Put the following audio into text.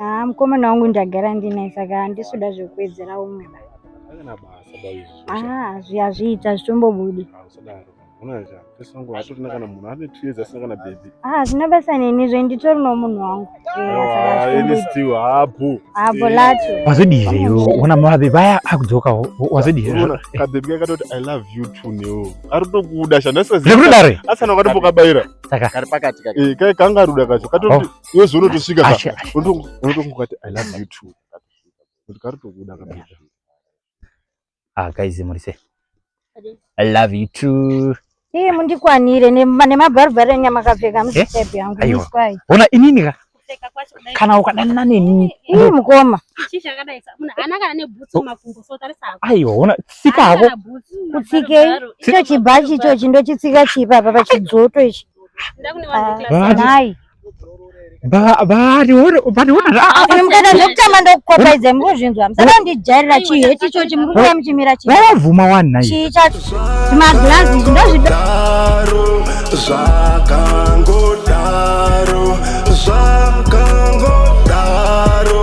Ah, mukomana wangu ndagara ndinaye saka handisuda zvekuwedzera umwe ba. Kana basa baizvi. Ah, zviya zviita zvitombobudi. Usadaro. Unaona cha. Pesa wangu hatorina kana munhu ane 2 years asina kana baby. Ah, zvina basa neni zve nditori no munhu wangu. Ah, ini still hapo. Hapo lacho. Wazodire yo, ona mabe baya akudzoka wazodire. Unaona ka baby kaka toti I love you too neo. Ari tokuda shana sasa. Ndikudare. Asana wakati pokabaira. Saka. Kari pakati kaka. Eh, kai kanga ruda kacho. Katoti oh. iwe zvono tosvika ka unotongokati i love you too kuti kari tokuda kabisa ah guys muri sei i love you too Hii mundikwanire nemabharubhari enyu amakapfeka eh? musitepi yangu miswai. Ona inini ka? Kana ukadanana neni. Hii mukoma. Aiwa ona tsika hako. Kutsike icho chibhachi ichochi ndochitsika chipa apa pachidzoto ichi. Ndakunewandikilasanai. mukada zvekutamba ndokukopaidzai murikuzvinzwa musada ndijairira chii heti ichochi murikuuya muchimira chiivavuma wanai chii chacho zvimaglazi izvi ndozvidaro zvakangodaro zvakangodaro